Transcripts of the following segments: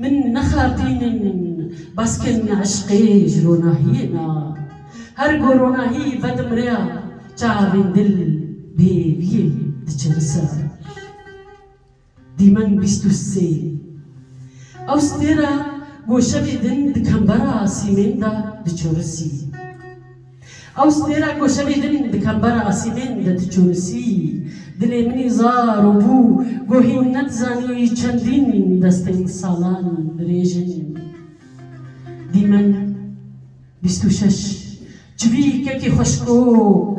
Min nexardînin baskên eşqê ji ronahiyê na. Her ku ronahî vedimre çavên dil bêviyê diçivise. Dîmen bîst û sê. Ew stêra ku şevê din di kembera asîmên de diçirisî. Ew stêra ku şevê din di kembera asîmên de diçûrisî, dilê min î zar û bû, gohî ne dizanî çendîn destên salan dirêj in. Dîmen bîst û şeş, çivî kekî xweşkok,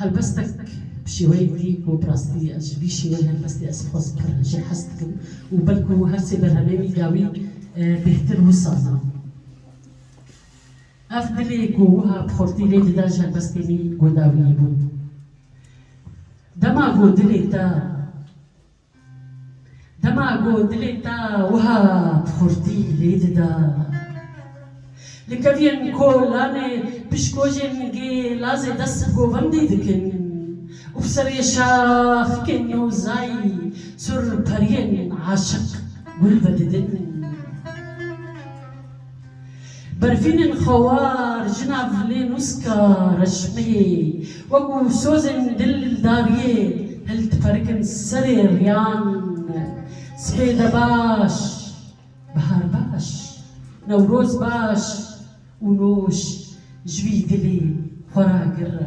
Helbestek bi şêweyê dî ku bi rastî ez ji vî şêweyê helbestê ez xwe pir jê hez dikim û belku her sê berhemên wî dawî bêhtir wisa na. Ev dilê ku wiha bi xurtî lê dida ji helbestên wî ku dawî bûn. Dema ku dilê te. Dema ku dilê te wiha bi xurtî lê dida. Li keviyên kolanê pişkojên gê lazê dest bi govendî dikin û bi serê şaxikên nozayî sur periyên aşiq gul vedidin. Berfînên xewar, jina vilê nûska reşmeyê wekû sozên dildariyê hildiqerikin serê riyan. Spêde baş, bihar baş, newroz baş û nûş ji wî dilê xwe re gire.